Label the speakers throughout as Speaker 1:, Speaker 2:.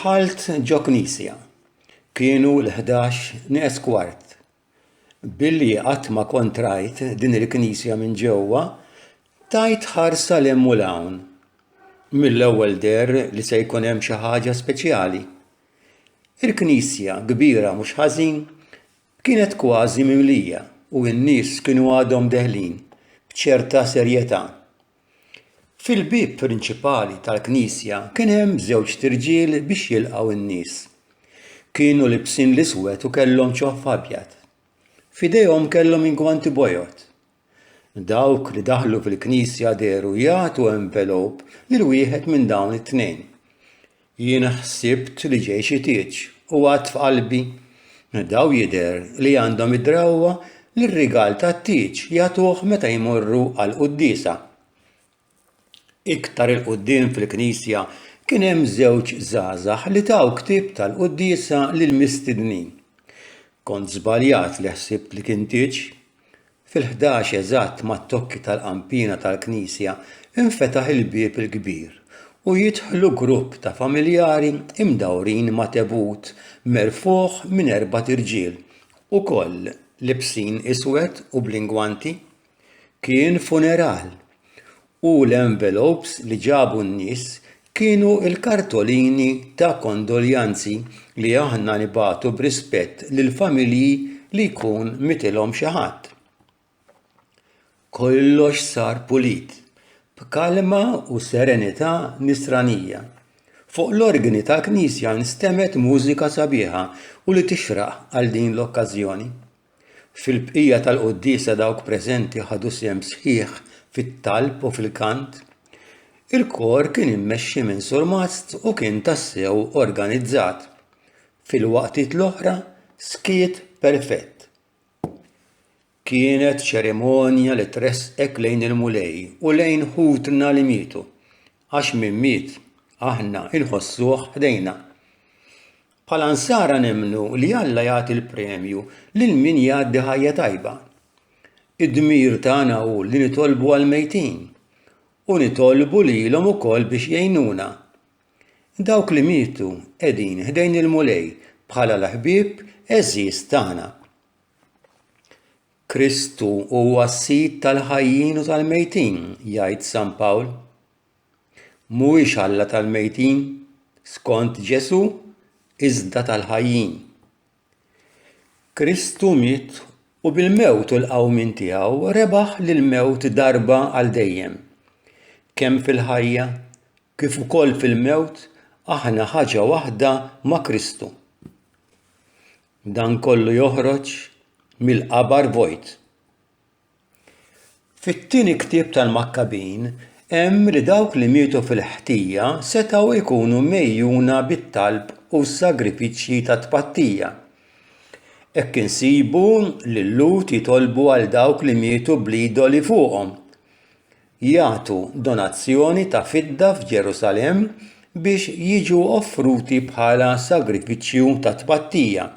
Speaker 1: Dħalt ġo knisja. Kienu l-11 nes kwart. Billi qatt ma kontrajt din il-knisja minn ġewwa, tajt ħarsa l u l-hawn. Mill-ewwel der li se jkun hemm xi ħaġa speċjali. Il-knisja, kbira mhux ħażin, kienet kważi mimlija u n-nies kienu għadhom deħlin b'ċerta serjetà. Fil-bieb prinċipali tal-knisja kien hemm żewġt irġiel biex jilqgħu n-nies. Kienu libsin l-iswed u kellhom ċoħħ abjad. F'idejhom kellhom ingwanti bojod. Dawk li daħlu fil-Knisja dehru jagħtu envelop lil wieħed minn dawn it-tnejn. Jien ħsibt li ġej xi tieġ u għadt f'qalbi, Daw jidher li għandhom id-drawwa li r-rigal tat-tieġ jagħtuh meta jmorru għall-quddiesa. Iktar 'il quddiem fil-knisja kien hemm żewġ żgħażagħ li taw ktieb tal-quddiesa lill-mistednin. Kont żbaljat li ħsibt li kien tieġ. Fil-ħdax eżatt mat-tokki tal-qanpiena tal-knisja infetaħ il-bieb il-kbir u jidħlu grupp ta' familjari mdawrin ma' tebut merfugħ minn erbat irġiel, ukoll libsin iswed u bl-ingwanti. Kien funeral u l-envelopes li ġabu n-nies kienu l-kartolini ta' kondoljanzi li aħna nibagħtu b'rispett lill-familji li jkun mietilhom xi ħadd. Kollox sar pulit, b'kalma u serenità Nisranija. Fuq l-organi tal-knisja nstemgħet mużika sabiħa u li tixraq għal din l-okkażjoni. Fil-bqija tal-quddiesa dawk preżenti ħadu sehem sħiħ fit-talb u fil-kant. Il-kor kien immexxi minn surmast u kien tassew organizzat. Fil-waqtiet l-oħra skiet perfett. Kienet ċerimonja li tressqek lejn il-Mulej u lejn ħutna li mietu, għax min miet aħna inħossuh ħdejna. Bħala Nsara nemmnu li Alla jagħti l-premju lil min jgħaddi ħajja tajba. Id-dmir tagħna hu li nitolbu għall-mejtin u nitolbu lilhom ukoll biex jgħinuna. Dawk li mietu qegħdin ħdejn il-Mulej bħala l-ħbieb għeżież tagħna. Kristu huwa s-Sid tal-ħajjin u tal-mejtin, jgħid San Pawl. Mhuwiex Alla tal-mejtin, skont Ġesù, iżda tal-ħajjin. Kristu miet u bil-mewt u l-qawmien tiegħu rebaħ lill-mewt darba għal dejjem. Kemm fil-ħajja kif ukoll fil-mewt aħna ħaġa waħda ma' Kristu. Dan kollu joħroġ mill-qabar vojt. Fit-Tieni Ktieb tal-Makkabin hemm li dawk li mietu fil-ħtija setgħu jkunu mgħejjuna bit-talb u s-sagrifiċċji ta' tpattija. Hekk insibu lil-Lhud jitolbu għal dawk li mietu bl-idoli fuqhom, jagħtu donazzjoni ta' fidda f'Ġerusalemm biex jiġu offruti bħala sagrifiċċju ta' tpattija.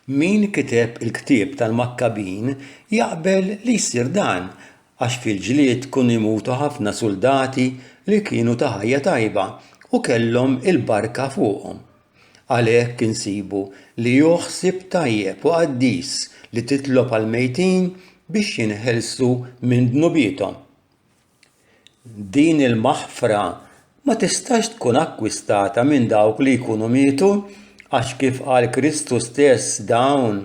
Speaker 1: Min kiteb il-ktieb tal-Makkabin jaqbel li jsir dan għax fil-ġlied kunu jmutu ħafna suldati li kienu ta' ħajja tajba u kellhom il-barka fuqhom. Għalhekk insibu li hu ħsieb tajjeb u qaddis li titlob għall-mejtin biex jinħelsu minn dnubiethom. Din il-maħfra ma tistax tkun akkwistata minn dawk li jkunu mietu, għax kif qal Kristu stess dawn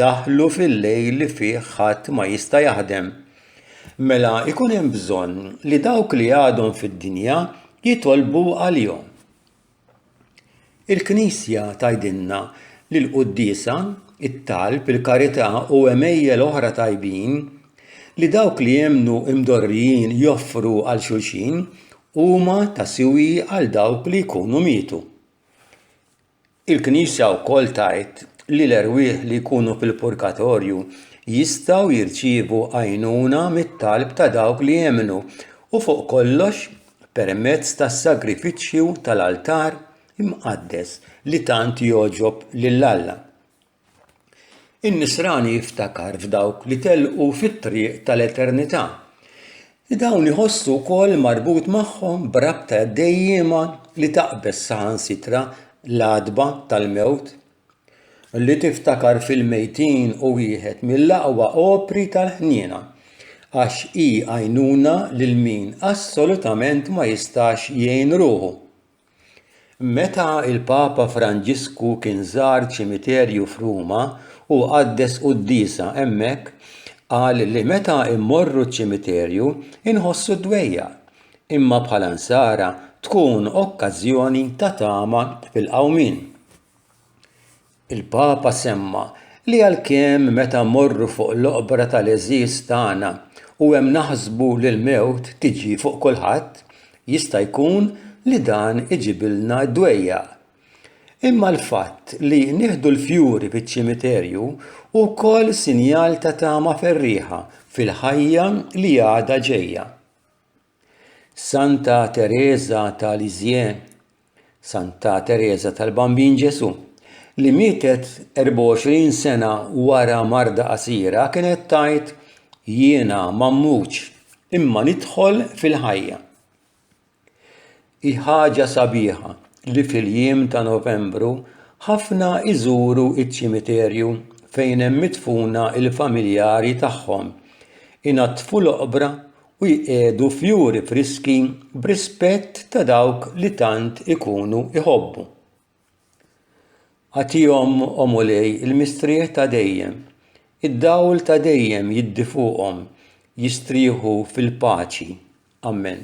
Speaker 1: daħlu fil-lejl li fih ħadd ma jista' jaħdem. Mela jkun hemm bżonn li dawk li għadhom fid-dinja jitolbu għalihom. Il-Knisja tgħidilna li l-quddiesa, it-talb, il-karità u għemejjel oħra tajbin li dawk li jemmnu mdorrijin joffru għal xulxin huma ta' siwi għal dawk li jkunu mietu. Il-Knisja wkoll tgħid li l-erwieħ li jkunu fil-purgatorju jistgħu jirċievu għajnuna mit-talb ta' dawk li jemmnu u fuq kollox permezz tas-sagrifiċċju tal-altar imqaddes li tant jogħġob lil Alla. In-nisrani jiftakar f'dawk li telqu fit-triq tal-eternità. Dawn iħossu wkoll marbut magħhom b'rabta dejjiema li taqbeż saħansitra l-għatba tal-mewt li tiftakar fil-mejtin hu wieħed mill-aqwa opri tal-ħniena għax hi għajnuna lil min assolutament ma jistax jgħin ruħu. Meta l-Papa Franġisku kien żar ċimiterju f'Ruma u qaddes quddiesa hemmhekk, qal li meta mmorru ċ-ċimiterju nħossu d-dwejjaq, imma bħala Nsara tkun okkażjoni ta' tama fil-qawmien. Il-Papa semma li għalkemm meta mmorru fuq l-oqbra tal-għeżież tagħna u hemm naħsbu li l-mewt tiġi fuq kulħadd, jista' jkun li dan iġibilna d-dwejjaq. Imma l-fatt li nieħdu l-fjuri fiċ-ċimiterju hu wkoll sinjal ta' tama ferrieħa fil-ħajja li għadha ġejja. Santa Tereża ta' Lisieux, Santa Tereża tal-Bambin Ġesù, li mietet 24 sena wara marda qasira kienet tgħid, Jiena m'ammutx, imma nidħol fil-ħajja. Hi ħaġa sabiħa li fil-jiem ta' Novembru ħafna jżuru ċ-ċimiterju fejn hemm midfuna l-familjari tagħhom, inaddfu l-oqbra u jqiegħdu fjuri friski b'rispett ta' dawk li tant ikunu jħobbu. Agħtihom, O Mulej, il-mistrieħ ta' dejjem, id-dawl ta' dejjem jiddi fuqhom, jistrieħu fil-paċi. Ammen.